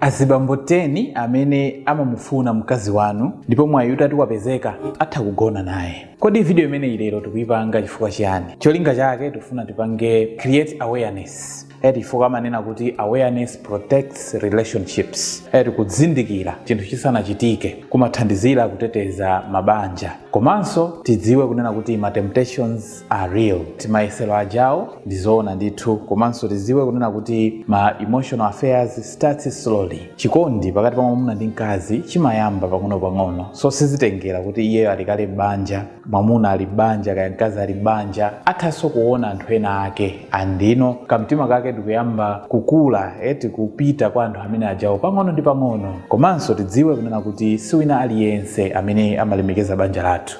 azibambo 10 amene amamufuna mkazi wanu ndipo mwayi utati wapezeka atha kugona naye kodi video imeneyi lero tikuyipanga chifukwa chiyani cholinga chake tifuna tipange create awareness eti chifukwa amanena kuti awareness protects relationships eti kudzindikira chinthu chisanachitike kumathandizira kuteteza mabanja komanso tidziwe kunena kuti ma temptations are real timayesero ajawo ndizoona ndithu komanso tiziwe kunena kuti ma emotional affairs starts slowly chikondi pakati pa mwamuna ndi mkazi chimayamba pang'onopang'ono so sizitengera kuti iyeyo ali kale m'banja mwamuna ali m'banja kaya mkazi ali m'banja athanso kuona anthu ena ake and then kamtima kake ndikuyamba kukula eti kupita kwa anthu amene ajawo pang'ono ndi pang'ono komanso tidziwe kunena kuti siwina aliyense amene amalemekeza banja lathu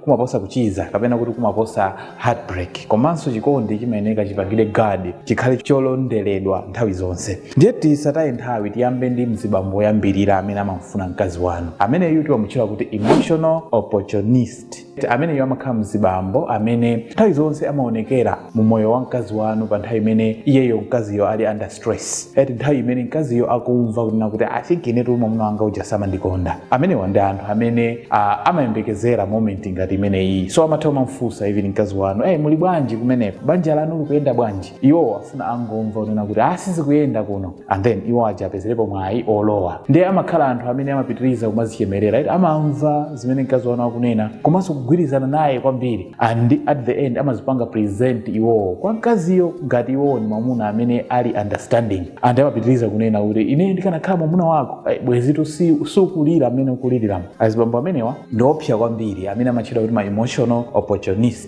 kumaposa kuchiza kapena kuti kumaposa heartbreak komanso chikondi chimayeneka chipangidwe guard chikhale cholonderedwa nthawi zonse ndiye tisataye nthawi tiyambe ndi mzibambo woyambirira amene amamfuna mkazi wanu ameneyu timamutchula kuti emotional opportunist ameneyu amakhala mzibambo amene nthawi zonse amaonekera mu moyo wa mkazi wanu pa nthawi imene iyeyo mkaziyo ali under stress eti nthawi imene mkaziyo akumva kunena kuti i think inetu mwamuna wanga uja samandikonda amenewa ndi anthu amene uh, amayembekezera moment ngati imeneyi so amatha kumamfunsa even mkazi wanu hey, muli bwanji kumeneko banja lanu likuyenda bwanji iwo afuna angomva kunena kuti ah sizikuyenda kuno and then iwo aja apezerepo mwayi olowa ndiye amakhala anthu amene amapitiriza kumazichemerera right? amamva zimene mkazi wanu akunena komanso kugwirizana naye kwambiri and at the end amazipanga present iwowo kwa mkaziyo ngati iwowo ni mwamuna amene ali understanding and amapitiriza kunena kuti ine ndikanakhala mwamuna wako ai, bwezitu si- sukulira amene ukuliriramo azibambo amenewa ndiopsa kwambiri amene amatchedwa kuti ma emotional opportunist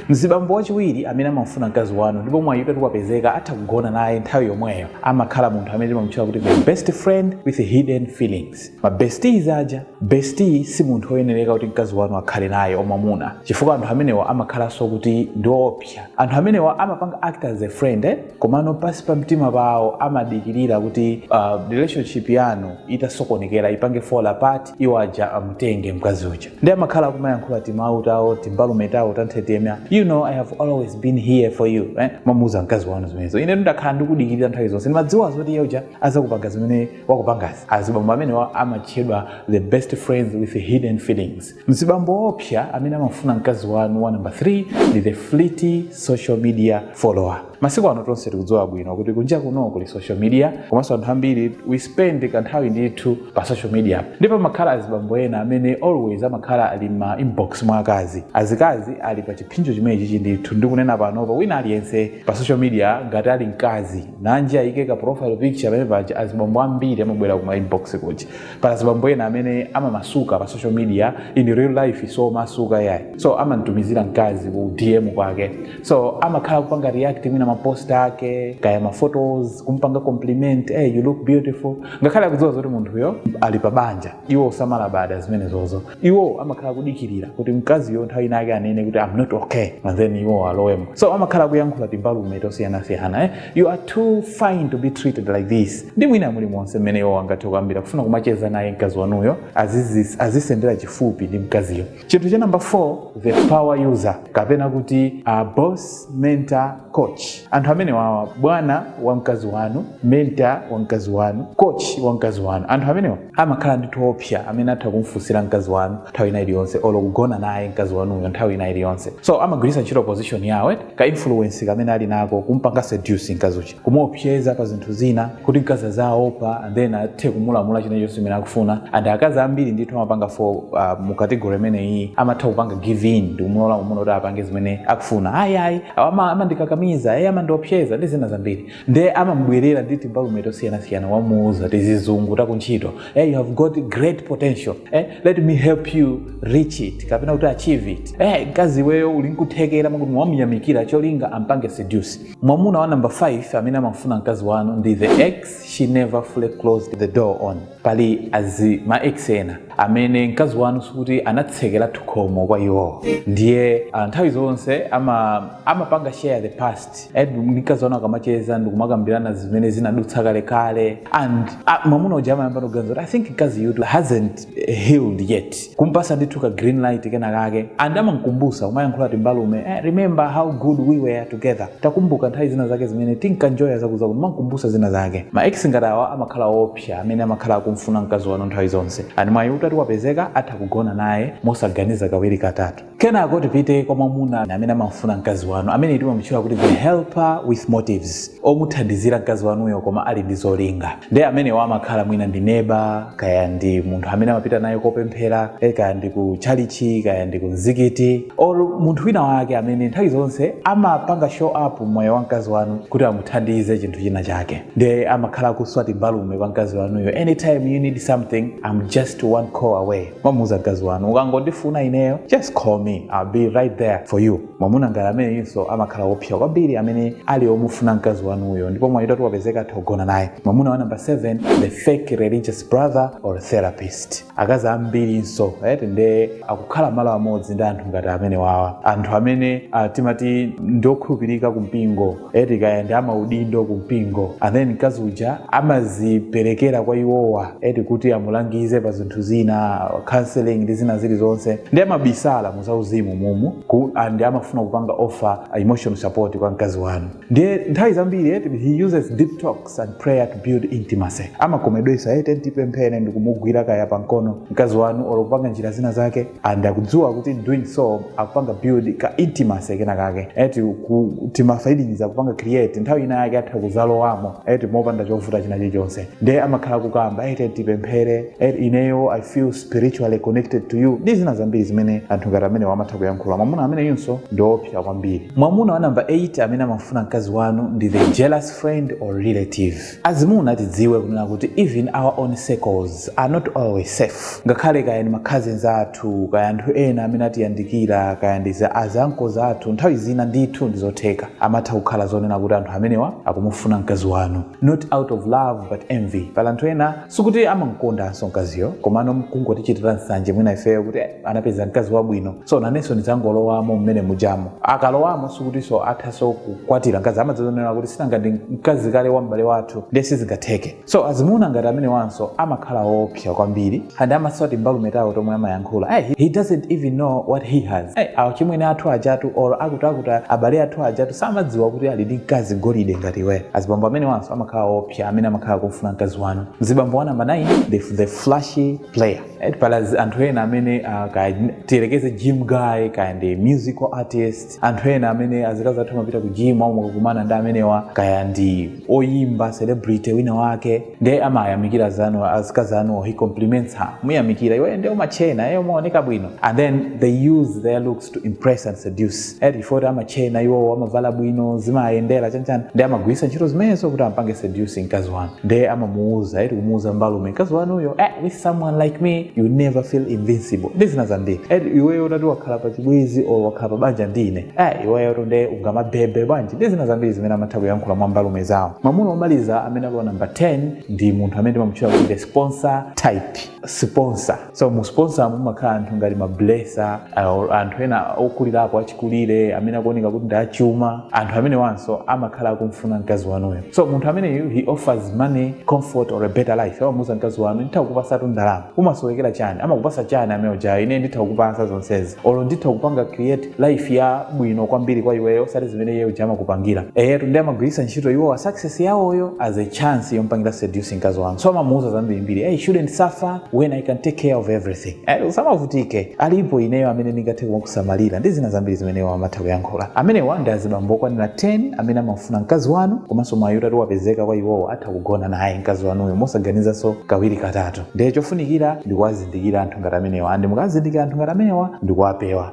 mzibambo wachiwiri amene amamufuna mkazi wanu ndipo mwayi utati wapezeka atha kugona naye nthawi yomweyo amakhala munthu amene timamutchula kuti the best friend with hidden feelings ma besties aja bestie si munthu oyenereka kuti mkazi wanu akhale naye wamwamuna chifukwa anthu amenewa amakhalanso kuti ndi oopsa anthu amenewa amapanga act as a friend eh? komano pansi pa mtima pawo amadikirira kuti uh, relationship yanu itasokonekera ipange fall apart iwo aja amutenge mkazi uja ndi amakhala akumayankhula timawu tawo timbalume tawo tanthetemnya you know i have always been here for you eh? amamuuza mkazi wanu zimenezo ine ndakhala ndikudikirira nthawi zonse ndimadziwa zoti iye uja azakupanga zimene wakupangazi azibambo amenewa amatchedwa the best friends with hidden feelings mzibambo woopsa amene amafuna mkazi wanu wa namba 3 ndi the flirty social media follower masiku ano tonse tikudziwa bwino kuti kunja kuno kuli social media komanso anthu ambiri we spend kanthawi ndithu pa social media ndipo pamakhala azibambo ena amene always amakhala ali ma inbox mwa akazi azikazi ali pa chiphinjo chimenechichi ndithu ndikunena panopa wina aliyense pa social media ngati ali mkazi nanji ayike ka profile picture pamene paja azibambo ambiri amabwera ku ma inbox kuja pali azibambo ena amene amamasuka pa social media in real life samamasuka ayi so amamtumizira mkazi ku dm kwake so amakhala kupanga react mwina mapost ake kaya maphotos kumpanga compliment hey, you look beautiful ngakhale akudziwa zoti munthuyo ali pa banja iwo samalabada zimenezozo iwo amakhala akudikirira kuti mkaziyo nthawi ina yake anene kuti am not okay and then iwo alowemo so amakhala akuyankhula timbalume tosiyanasiyana eh? you are too fine to be treated like this ndi mwina muli monse mmene iwo angathe kuyambira kufuna kumacheza naye mkazi wanuyo azizi- azisendera chifupi ndi mkaziyo chinthu cha namba 4 the power user kapena kuti a boss mentor coach anthu amenewawa bwana wa mkazi wanu mentor wa mkazi wanu coach wa mkazi wanu anthu amenewa amakhala ndithu oopsa amene atha kumfunsira mkazi wanu nthawi ina iliyonse olo kugona naye mkazi wanuyo nthawi ina iliyonse so amagwiritsa ntchito position yawo eti ka influence kamene ali nako kumpanga seduce mkazi uja kumuopseza pa zinthu zina kuti mkazi aziopa and then athe kumulamula china chilichonse chimene akufuna and akazi ambiri ndithu amapanga fall uh, mu category imene iyi amatha kupanga give in ndi kumulola mamuna kuti apange zimene akufuna ayi ayi ama- amandikakamiza ayi amandiopseza ndi zina zambiri nde amamubwerera ndi timbalume tosiyanasiyana amamuuza tizizungu takuntchito hey, you have got great potential eh, let me help you reach it kapena kuti achieve it eh, mkazi iweyo uli nkuthekera mwakuti amamuyamikira cholinga ampange seduce mwamuna wa number 5 amene amafuna mkazi wanu ndi the ex she never fully closed the door on pali azi ma ex ena amene mkazi wanu sikuti anatsekera khomo kwa iwowo ndiye ah, nthawi zonse ama amapanga share the past Eh, ndi mkazi wanu akamacheza ndikumakambirana zimene zinadutsa kalekale and ah, mwamuna uja amayamba kuganiza kuti i think mkaziyutu hasn't eh, healed yet kumpasa ndithu ka green light kena kake and amankumbusa kumayankhula timbalume eh, remember how good we were together takumbuka nthawi zina zake zimene tinkanjoya kumankumbusa zina zake ma ex ngati awa amakhala opsa K. Amene amakhala akumfuna mkazi wanu nthawi zonse, and mwayi utati wapezeka atha kugona naye mosaganiza kawiri katatu. Kenako tipite kwa mwamuna amene amamfuna mkazi wanu, ameneyu timamutchula kuti the helper with motives, omuthandizira mkazi wanuyo koma ali ndi zolinga. Nde amenewa amakhala mwina ndi neba, kaya ndi munthu amene amapita naye kopemphera, eh, kaya ndi ku tchalitchi, kaya ndi ku mzikiti, or munthu wina wake amene nthawi zonse amapanga show up mmoyo wa mkazi wanu kuti amuthandize chinthu china chake. ndiye amakhala akuswa timbalume kwa mkazi wanuyo anytime you need something i'm just one call away kumamuuza mkazi wanu ukangondifuna ineyo just call me i'll be right there for you mwamuna ngati ameneyinso amakhala woopsa kwambiri amene ali omufuna mkazi wanuyo ndipo mwayi utati wapezeka atha kugona naye mwamuna wa namba 7 the fake religious brother or therapist akazi ambirinso eti nde akukhala malo amodzi ndi anthu ngati amene wawa anthu amene uh, timati ndiokhulupirika ku mpingo eti kaya ndi amaudindo ku mpingo and then mkazi uja amaziperekera kwa iwowa eti kuti amulangize pa zinthu zina counseling ndi zina zilizonse ndiye amabisala mu zauzimu mumu ku, and amafuna kupanga offer uh, emotional support kwa mkazi wanu ndiye nthawi zambiri eti he uses deep talks and prayer to build intimacy. Amakomedwetsa let's tipemphere ndikumugwira kaya pamkono mkazi wanu olo kupanga njira zina zake and akudziwa kuti in doing so akupanga build ka intimacy kena kake eti ku- timafeelings akupanga create nthawi ina yake atha kuzalowamo eti mopanda chovuta china chilichonse nde amakhala kukamba let's tipemphere eti ineyo i feel spiritually connected to you ndi zina zambiri zimene anthu ngati amenewa amatha kuyankhula mwamuna ameneyinso ndi woopsa kwambiri mwamuna wa namba 8 amene amafuna mkazi wanu ndi the jealous friend or relative azimuna tidziwe kunena kuti even our own circles are not always safe ngakhale kaya ndi macousins athu kaya anthu ena amene atiyandikira kaya ndi za azanko zathu nthawi zina ndithu ndizotheka amatha kukhala zonena kuti anthu amenewa akumufuna mkazi wanu not out of love but envy pali anthu ena sikuti amamkondanso mkaziyo komano mkungotichitira nsanje mwina ifeyo kuti eh, anapeza mkazi wabwino so nanenso ndidzangolowamo mmene mujamo akalowamo sikutinso athanso kukwatira mkazi amadziwa zonena kuti sinanga ndi mkazi kale wa m'bale wathu ndiye sizingatheke so azimuna ngati amenewanso amakhala woopsa kwambiri and amaswa timbalume tawo tomwe amayankhula hey, he- he doesn't even know what he has hey, achimwene athu ajatu or akutiakuti abale athu ajatu samadziwa kuti ali ndi mkazi golide ngati iwe azibambo amenewanso amakhala woopsa amene amakhala kumfuna mkazi wanu mzibambo wa namba 9 the, the flashy player Right, pali anthu ena amene uh, kaya tiyerekeze gym guy kaya ndi musical artist anthu ena amene azikazi athu amapita ku gym amakakumana ndi amenewa kaya ndi oyimba celebrity wina wake ndiye amayamikira sana azikazi anu he compliments her kumuyamikira iwe ndiye umachena iwe umaoneka bwino and then they use their looks to impress and seduce eti poti amatchena iwowo amavala bwino zimayendera chanichani ndiye amagwiritsa ntchito zimenezo kuti ampange seduce mkazi wanu ndiye amamuuza eti kumuuza mbalume mkazi wanuyo eh, with someone like me you never feel invisible ndi zina zambiri eti iweyo utati wakhala pa chibwezi or wakhala pa banja ndi ine eh, iweyo tu nde ungamabebe bwanji ndi zina zambiri zimene amatha kuyankhula mwa mbalume zawo mwamuna omaliza amene ali wa namba 10 ndi munthu amene timamutchula kuti the sponsor type sponsor so mu sponsor mumakhala anthu ngati mablesser or anthu ena okulirapo achikulire amene akuoneka kuti ndi achuma anthu amenewanso amakhala akumfuna mkazi wanuyo so munthu ameneyu he offers money comfort or a better life amamuuza mkazi wanu nditha kukupasatu ndalama umasowekera chani amakupasa chani amene ujayo ine nditha kukupasa zonsezi olo nditha kupanga create life ya bwino kwambiri kwa iweyo osati zimene iye uja amakupangira eyetu ndiye amagwiritsa ntchito iwowa success yawoyo as a chance yompangira seduce mkazi wanu so amamuuza zambirimbiri hey, shouldn't suffer when i can take care of everything Eh, usamavutike alipo ineyo amene ndingathe kumakusamalira ndi zina zambiri zimene iwo amatha kuyankhula amenewa ndi azibambo okwanira 10 amene amafuna mkazi wanu komanso mwayi utati wapezeka kwa iwowo atha kugona naye mkazi wanuyo mosaganizanso kawiri katatu ndiye chofunikira ndikuwazindikira anthu ngati amenewa and mukazindikira anthu ngati amenewa ndikuwapewa